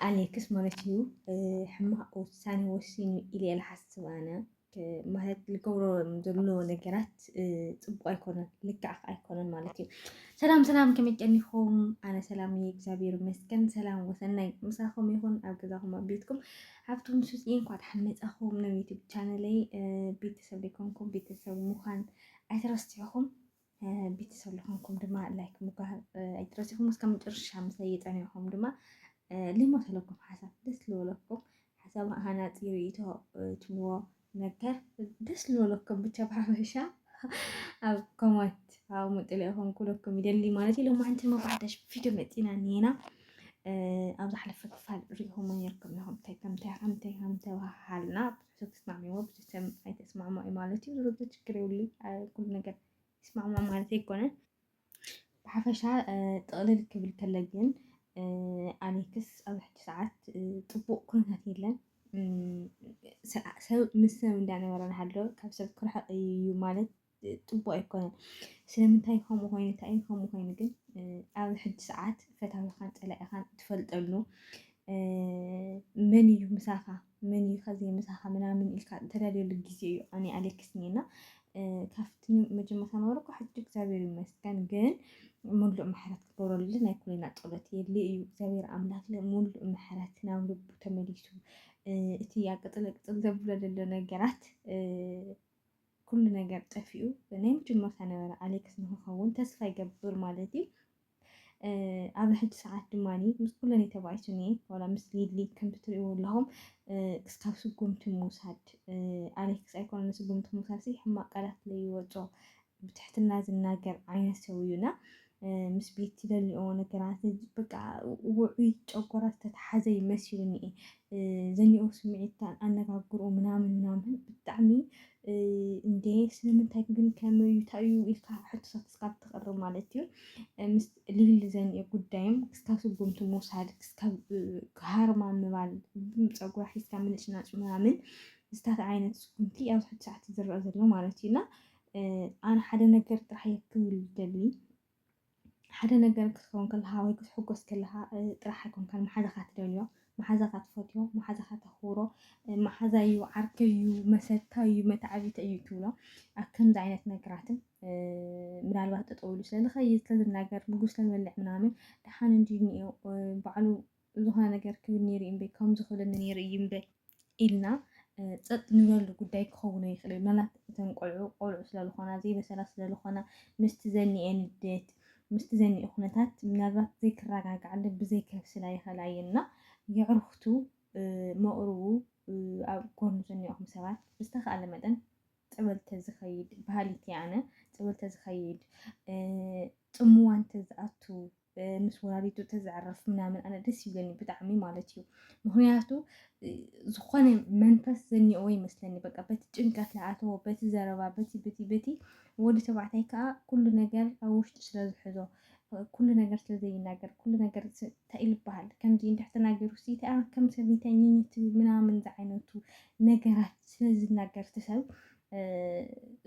ኣሌክስ ማለት እዩ ሕማቅ ውሳኔ ወሲኑ ኢለ ልሓስብ ኣነ ማለት ልገብሮ ዘሎ ነገራት ፅቡቅ ኣይኮነን ልክዕ ኣይኮነን ማለት እዩ። ሰላም ሰላም ከመይ ቀኒኹም? ኣነ ሰላም እየ እግዚኣብሔር ይመስገን። ሰላም ወሰናይ ምሳኹም ይኹን ኣብ ገዛኹም ኣብ ቤትኩም ሃብቶም ሱስ እንኳዕ ደሓን መጻኹም ናብ ዩቲብ ቻነለይ ቤተሰብ ዘይኮንኩም ቤተሰብ ምዃን ኣይትረስዑኹም። ቤተሰብ ዝኾንኩም ድማ ላይክ ምባል ኣይትረሲኹም። እስከ መጨረሻ ምስ የጠንዕኹም ድማ ልሞተለኩም ሓሳብ ደስ ዝበለኩም ሓሳብ ሃናፂ ርእይቶ ትብዎ ነገር ደስ ዝበለኩም ብቻ ብሓፈሻ ኣብ ኮማት ኣብ ምጥለ ይኹም ኩለኩም ይደሊ ማለት ኢሎም ሓንቲ መባሕዳሽ ቪድዮ መፂና ኒና ኣብ ዝሓለፈ ክፋል ሪኢኹም ነርኩም ኢኹም ከምታይ ከምታይ ከምታይ ተባሃልና ተስማዕሚዎ ብዝተም ኣይተስማዕማዒ ማለት እዩ። ዞሮ ዞሮ ችግር የብሉን ኩሉ ነገር ይስማዕማዕ ማለት ኣይኮነን። ብሓፈሻ ጥቕልል ክብል ከለ ግን ኣሌክስ ኣብ ሕጂ ሰዓት ጥቡቕ ኩነታት የለን። ሰብ ምስ ሰብ እንዳነበረ ንሃሎ ካብ ሰብ ክርሕቕ እዩ ማለት ፅቡቅ ኣይኮነን። ስለምንታይ ከምኡ ኮይኑ እንታይ ከምኡ ኮይኑ ግን ኣብ ሕጂ ሰዓት ፈታዊኻን ፀላኢኻን እትፈልጠሉ መን እዩ ምሳኻ መን እዩ ከዚ ምሳኻ ምናምን ኢልካ እተለልየሉ ግዜ እዩ። ኣነ ኣሌክስ እና ካብቲ መጀመርታ ነበርኩ ሕጂ እግዚኣብሔር ይመስገን ግን ሙሉእ ምሕረት ክገብረሉ ናይ ኩልና ፀሎት የድሊ እዩ። እግዚኣብሔር ኣምላክ ሙሉእ ምሕረት ናብ ልቡ ተመሊሱ እቲ ኣቅፅለ ቅፅል ዘብሎ ዘሎ ነገራት ኩሉ ነገር ጠፊኡ ናይ መጀመርታ ነበረ ኣሌክስ ንክኸውን ተስፋ ይገብር ማለት እዩ። ኣብ ሕጂ ሰዓት ድማ ምስ ኩለን ተባኢሱ እኒኤ ዋላ ምስ ሊሊ ከምቲ ትሪእዎ ኣለኹም ክስካብ ስጉምቲ ምውሳድ ኣሌክስ ኣይኮነ ንስጉምቲ ምውሳድ ሕማቅ ቃላት ለይወፆ ብትሕትና ዝናገር ዓይነት ሰው እዩና ምስ ቤት ትደልኦ ነገራት በቃ ውዑይ ጨጎራ ዝተተሓዘ እዩ መሲሉኒ ዘኒኦ ስምዒት ኣነጋግርኡ ምናምን ምናምን ብጣዕሚ እንደ ስለምንታይ ግን ከመዩ ታዩ ኢልካ ሕቶታት እስካብ ትቕርብ ማለት እዩ ምስ ልል ዘኒኦ ጉዳይም ክስካብ ስጉምቲ ምውሳድ ክስካብ ሃርማ ምባል ፀጉራ ሒዝካ ምንጭናጭ ምናምን ዝታት ዓይነት ስጉምቲ ኣብዚ ሕቲ ሰዓት ዝረአ ዘሎ ማለት እዩ እና ኣነ ሓደ ነገር ጥራሕ እየ ክብል ደሊ ሓደ ነገር ክትከውን ከለካ ወይ ክትሕጎስ ከለካ ጥራሕ ኣይኮንካን መሓዛካ ትደልዮ መሓዛካ ትፈትዮ መሓዛካ ተኽብሮ መሓዛ እዩ ዓርከ እዩ መሰታ እዩ መታዓቢተ እዩ ትብሎ ኣብ ከምዚ ዓይነት ነገራትን ምናልባት ጠጠው ኢሉ ስለዝኸይድ ስለዝናገር ምግብ ስለዝበልዕ ምናምን ደሓን እንዲ እኒኦ ባዕሉ ዝኾነ ነገር ክብል ነይሩ እዩ እምበይ ከምዚ ክብለኒ ነይሩ እዩ እምበይ ኢልና ፀጥ ንብለሉ ጉዳይ ክኸውን ይኽእል እዩ። ምናልባት እተን ቆልዑ ቆልዑ ስለዝኾና ዘይበሰላት ስለዝኾና ምስቲ ዘኒኤ ንዴት ምስቲ ዘኒኤ ኩነታት ምናልባት ዘይክረጋግዓለ ብዘይከብስላ ይኽእላ እየን እና የዕርኽቱ መቕርቡ ኣብ ጎኑ ዘኒኦኹም ሰባት ብዝተኻእለ መጠን ፀበል ተዝኸይድ ባህሊት እየ ኣነ ፀበል ተዝኸይድ ፅምዋ እንተዝኣቱ ምስ ወላዲቱ ተዘዕረፍ ምናምን ኣነ ደስ ይብለኒ ብጣዕሚ ማለት እዩ ምክንያቱ ዝኾነ መንፈስ ዘኒኦዎ ይመስለኒ በቃ በቲ ጭንቀት ለኣተዎ በቲ ዘረባ በቲ በቲ በቲ ወዲ ተባዕታይ ከዓ ኩሉ ነገር ኣብ ውሽጡ ስለ ዝሕዞ ኩሉ ነገር ስለ ዘይናገር ኩሉ ነገር እንታይ ኢሉ ይበሃል ከምዚ እንድሕ ተናገሩ ሲ ከም ሰብይተኝኝት ምናምን ዝዓይነቱ ነገራት ስለ ዝናገር ትሰብ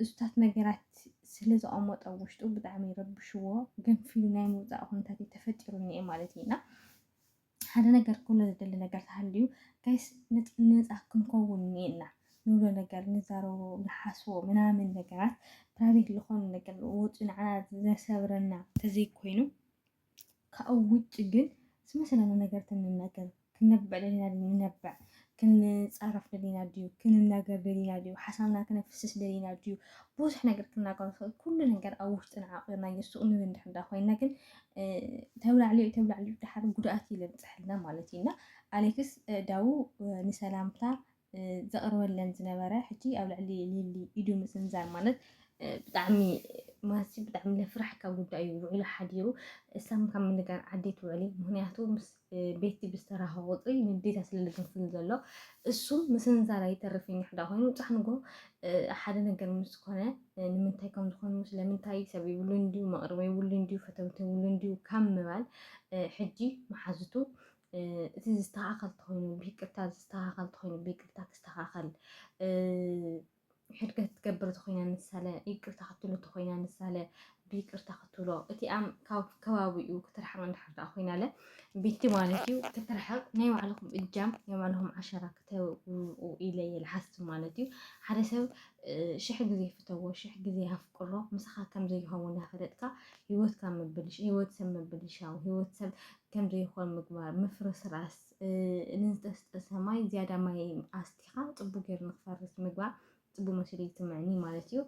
እሱታት ነገራት ስለ ዘቐመጦ ኣብ ውሽጡ ብጣዕሚ ረብሽዎ ገንፊሉ ናይ ምውፃእ ኩነታት እዩ ተፈጢሩ እኒኤ ማለት እዩ እና ሓደ ነገር ክብሎ ዝደሊ ነገር ተሃልዩ ጋይስ ነፃ ክንከውን እኒኤና ንብሎ ነገር ንዛረቦ ንሓስቦ ምናምን ነገራት ፕራይቬት ዝኾኑ ነገር ወፂኡ ንዓና ዘሰብረና ተዘይኮይኑ ካኡ ውጭ ግን ዝመሰለና ነገር ትንነገር ክንነብዕ ደሊና ድዩ ንነብዕ፣ ክንጻረፍ ደሊና ድዩ ክንናገር ደሊና ድዩ፣ ሓሳብና ክነፍስስ ደሊና ድዩ፣ ብዙሕ ነገር ክናገር ንኽእል ኩሉ ነገር ኣብ ውሽጥና ዓቂርናዮ ሱቅ ንብል እንድሕር እንዳ ኮይና ግን ተብላዕልዮ ተብላዕልዮ ድሓር ጉድኣት እዩ ለብጽሐልና ማለት እዩ እና ኣሌክስ ዳዉ ንሰላምታ ዘቕርበለን ዝነበረ ሕጂ ኣብ ልዕሊ ሊሊ ኢዱ ምስንዛር ማለት ብጣዕሚ ማሲ ብጣዕሚ ለፍራሕካ ጉዳይ እዩ ውዕሉ ሓዲሩ እሳም ካብ ምንጋር ዓዴት ውዕሊ ምክንያቱ ምስ ቤቲ ብዝተራኸ ቁፅሪ ንዴታ ስለልግንፍል ዘሎ እሱ ምስንዛር ኣይተርፍኝ ሕዳ ኮይኑ ፃሕንጎ ሓደ ነገር ምስ ኮነ ንምንታይ ከም ዝኾኑ ስለምንታይ ሰብ ይብሉ እንዲዩ መቕርበ ይብሉ እንዲዩ ፈተውቲ ይብሉ እንዲዩ ካብ ምባል ሕጂ መሓዝቱ እቲ ዝስተኻኸል ተኾይኑ ብይቅርታ ዝስተኻኸል ተኾይኑ ብይቅርታ ክስተኻኸል ሕድገት ትገብር ተኾይና ንሳለ ይቅርታ ክትብሎ ተኾይና ንሳለ ብይቅርታ ክትብሎ እቲኣም ካብ ከባቢኡ ክትርሕቕ እንድሕር ደኣ ኮይናለ ቤቲ ማለት እዩ ክትርሕቕ ናይ ባዕልኹም እጃም ናይ ባዕልኹም ዓሸራ ክተብኡ ኢለ እየ ዝሓስብ ማለት እዩ ሓደ ሰብ ሽሕ ግዜ ፍተዎ ሽሕ ግዜ ኣፍቅሮ ምሳኻ ከም ዘይኸውን እናፈለጥካ ሂወትካ ምብልሽ ሂወት ሰብ ምብልሻው ሂወት ሰብ ከምዘይኾን ምግባር፣ ምፍርስራስ፣ ንዝጠስጠሰ ማይ ዝያዳ ማይ ኣስቲኻ ጽቡቅ ጌሩ ንክፈርስ ምግባር ጽቡቅ መሲሉ ይስምዐኒ ማለት እዩ።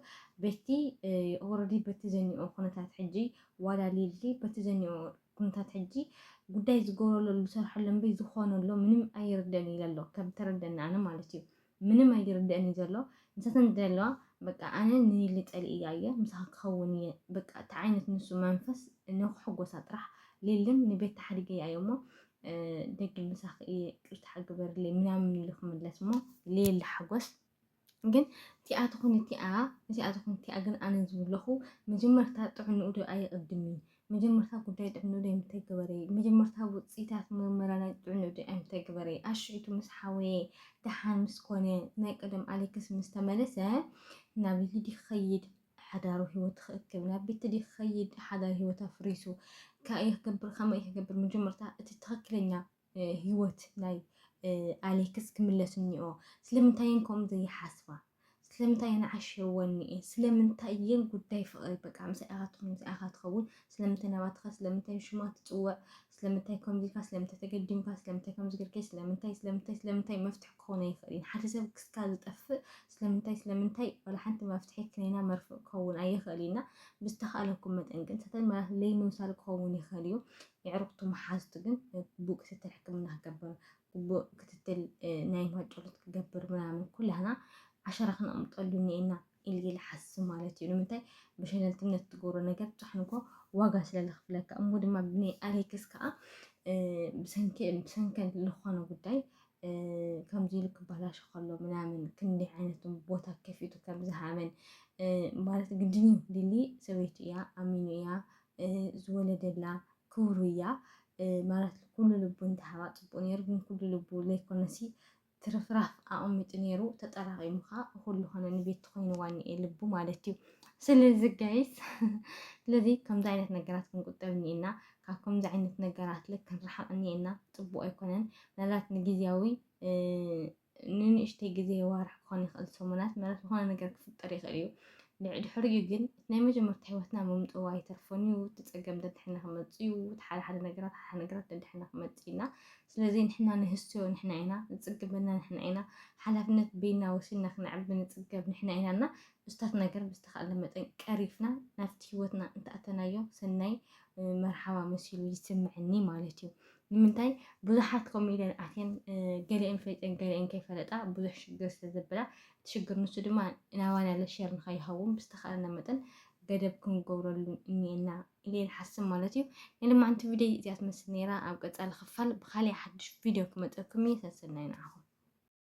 በቲ ኦረዲ በቲ ዘኒኦ ኩነታት ሕጂ ዋላ ሊሊ በቲ ዘኒኦ ኩነታት ሕጂ ጉዳይ ዝገብረሉ ዝሰርሐሉ እምበይ ዝኾነሉ ምንም ኣይርደን ኢለ ኣሎ ከም ተረደኒ ኣነ ማለት እዩ። ምንም ኣይርደእን እዩ ዘሎ ንሳተን ዝደለዋ በቃ ኣነ ንኒሊ ጸሊእያ እየ ምሳኻ ክኸውን እየ በቃ እቲ ዓይነት ንሱ መንፈስ ንክሕጎሳ ጥራሕ ሊልን ንቤት ተሓዲገያ እየ እሞ ደጊም ምሳኺ እየ ቅርታ ግበርለይ ምናምን ኢሉ ክምለስ እሞ ሌሊ ሓጎስ ግን እቲኣ ትኹን እቲኣ እዚኣ ትኹን እቲኣ ግን ኣነ ዝብለኹ መጀመርታ ጥዕንኡ ዶ ኣይቕድም እዩ መጀመርታ ጉዳይ ጥዕንኡደይ ኣይምተግበረይ መጀመርታ ውጽኢታት ምርመራናይ ጥዕንኡደይ ኣይምተግበረይ ኣሽዒቱ ምስ ሓወየ ደሓን ምስ ኮነ ናይ ቀደም ኣሌክስ ምስ ተመለሰ ናብ ሊዲ ክኸይድ ሓዳሩ ህይወት ክእክብ ናብ ቤትዲ ክኸይድ ሓዳር ህይወት ኣፍሪሱ ካእየ ክገብር ከመይ ክገብር መጀመርታ እቲ ትኽክለኛ ህይወት ናይ ኣሌክስ ክምለስ እኒኦ ስለምንታይ እየን ከምኡ ዘይሓስባ ስለምንታይ እየን ዓሸወኒ እየን ስለምንታይ እየን ጉዳይ ፍቕሪ በቃ ምስኣ ኢኻ ትኹን ምስኣ ኢኻ ትኸውን ስለምንታይ ናባትኻ ስለምንታይ ሽማ ትፅውዕ ስለምንታይ ከምዚ ኢልካ ስለምንታይ ተገዲምካ ስለምንታይ ከምዚ ገርኪ ስለምንታይ ስለምንታይ ስለምንታይ መፍትሒ ክኾነ ይኽእልን ሓደ ሰብ ክስካ ዝጠፍእ ስለምንታይ ስለምንታይ ዋላ ሓንቲ መፍትሒ ክነና መርፍእ ክኸውን ኣይኽእል ኢና ብዝተኻእለኩም መጠን ግን ሰተን ማለት ለይምምሳል ክኸውን ይኽእል እዩ የዕሩኽቱ መሓዙቱ ግን ግቡእ ክትትል ሕክምና ክገብር ግቡእ ክትትል ናይ ማጮሎት ክገብር ምናምን ኩላህና ዓሸራ ክነቕምጠሉ እኒኤና ኢልየ ልሓስብ ማለት እዩ ንምንታይ ብሸለልትነት ትገብሮ ነገር ጫሕንኮ ዋጋ ስለ ልኽፍለካ እሞ ድማ ብናይ ኣሌክስ ከዓ ብሰንከን ዝኾነ ጉዳይ ከምዚ ኢሉ ክበላሾ ከሎ ምናምን ክንዲ ዓይነትን ቦታ ከፊቱ ከም ዝሃበን ማለት ግድን እዩ ሊሊ ሰበይቱ እያ ኣሚኑ እያ ዝወለደላ ክብሩ እያ ማለት ኩሉ ልቡ እንተሃባ ጽቡቅ ነይሩ ግን ኩሉ ልቡ ለይኮነሲ ትርፍራፍ ኣቐሚጡ ነይሩ ተጠራቂሙ ኸዓ ኩሉ ኾነ ንቤት ትኾይንዋ እኒኤ ልቡ ማለት እዩ ስለዚ ጋይስ ስለዚ ከምዚ ዓይነት ነገራት ክንቁጠብ እኒኤና ካብ ከምዚ ዓይነት ነገራት ልክ ክንረሓቕ እኒኤና ፅቡቕ ኣይኮነን ምናልባት ንግዜያዊ ንንእሽተይ ግዜ፣ ኣዋርሕ ክኾን ይኽእል፣ ሰሙናት፣ ምናልባት ዝኾነ ነገር ክፍጠር ይኽእል እዩ። ድሕሪኡ ግን እቲ ናይ መጀመርታ ህይወትና ምምጽኡ ኣይተርፎን እዩ። እቲ ጸገም ደድሕና ክመጽእ እዩ። እቲ ሓደ ሓደ ነገራት ሓደ ሓደ ነገራት ደድሕና ክመጽእ ኢና። ስለዚ ንሕና ንህስዮ ንሕና ኢና፣ ዝጽግበና ንሕና ኢና፣ ሓላፍነት በይንና ወሲድና ክነዕቢ ንጽገብ ንሕና ኢና እና እሱታት ነገር ብዝተኻእለ መጠን ቀሪፍና ናብቲ ህይወትና እንተኣተናዮ ሰናይ መርሓባ መሲሉ ይስምዐኒ ማለት እዩ። ንምንታይ ብዙሓት ከምኡ ኢለን ኣትየን ገሊአን ፈሊጠን ገሊአን ከይፈለጣ ብዙሕ ሽግር ስለ ዘበላ እቲ ሽግር ንሱ ድማ ናባና ለሸር ንኸይኸውን ብዝተኸኣለና መጠን ገደብ ክንገብረሉ እኒኤና ኢለ ንሓስብ ማለት እዩ ናይ ልማዕንቲ ቪድዮ እዚኣ ትመስል ነይራ ኣብ ቀፃሊ ክፋል ብካሊእ ሓዱሽ ቪድዮ ክመፀኩም እየ ሰሰናይ ንዓኹም